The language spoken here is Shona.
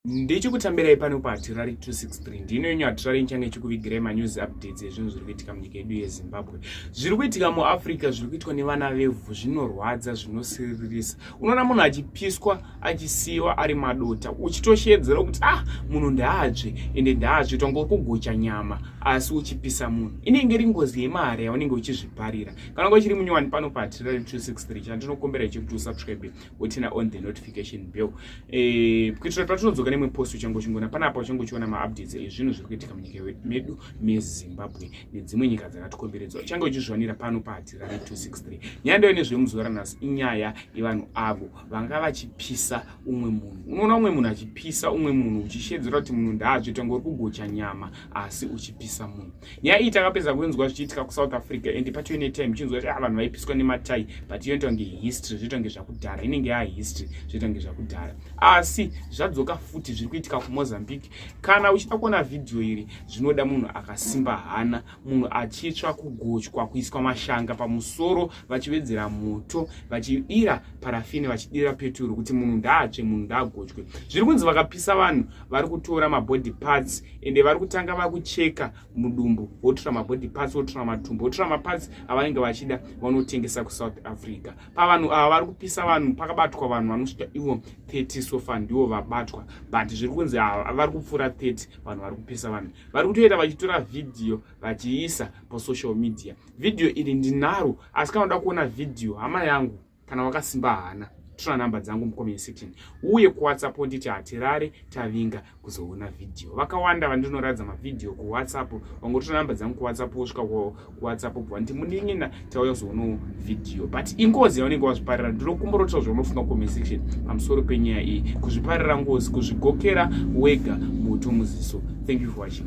ndichikutambirai pano pahatirari 263 ndino yenyu hatirari nchange chikuvigirai manews updates ezvinhu zviri kuitika munyika yedu yezimbabwe zviri kuitika muafrica zviri kuitwa nevana vevhu zvinorwadza zvinosiririsa unoona munhu achipiswa achisiyiwa ari madota uchitosheedzera kuti ah munhu ndaatsve ende ndaatsve tonga uri kugocha nyama asi uchipisa munhu inenge iri ngozi yemari yaunenge uchizviparira kana ngo chiri munyowani pano pahatirari 263 chandinokumbira ichiri kuti usubscribe wotina on the notification bell eh, kuitira kuti patinodzoka nemwe post uchange uchingoona panapa uchange uchiona maupdates ezvinhu zviri kuitika munyika medu mezimbabwe nedzimwe nyika dzakatikomberedza uchange uchizviwanira pano pahatira re 263 nyaya ndayo nezvemuzuva ranhasi inyaya yevanhu avo vanga vachipisa umwe munhu unoona umwe munhu achipisa umwe munhu uchishedzera kuti munhu ndaazvitanga uri kugocha nyama asi uchipisa munhu nyaya iyi takapedza kuinzwa zvichiitika kusouth africa and patio netime ichinzwa kuti ah, vanhu vaipiswa nematai but iyo ntonge history zvoita kunge zvakudhara inenge yaa history zvoita kunge zvakudhara asi zvadzoka futi zviri kuitika kumozambique kana uchida kuona vhidhiyo iri zvinoda munhu akasimba hana munhu achitsva kugochwa kuiswa mashanga pamusoro vachivedzera moto vachidira parafini vachidira peturu kuti munhu ndaatsve munhu ndaagochwe zviri kunzi vakapisa vanhu vari kutora mabody parts ende vari kutanga vakucheka mudumbu votora mabody parts votora matumbu votora maparts avanenge vachida vanotengesa kusouth africa pavanhu ava vari kupisa vanhu pakabatwa vanhu vanosvika ivo 30 sofa ndivo vabatwa but zviri kunzi ava vari kupfuura 30 vanhu vari kupisa vanhu vari kutoita vachitora vhidhiyo vachiisa pasocial media vhidhiyo iri ndinaro asi kana uda kuona vhidhiyo hama yangu kana wakasimba hana tora number dzangu mucomment section uye kuwhatsapp nditi hatirare tavinga kuzoona video vakawanda vandinoratidza mavhideo kuwhatsapp vangotora number dzangu kuwhatsapp wosvika kuwhatsapp bva nditi munin'ina tauya kuzoonawo video but ingozi yaunenge wazviparira ndinokumborotawo zvaunofunga comment section pamusoro penyaya iyi kuzviparira ngozi kuzvigokera wega mutu muziso thank you for watching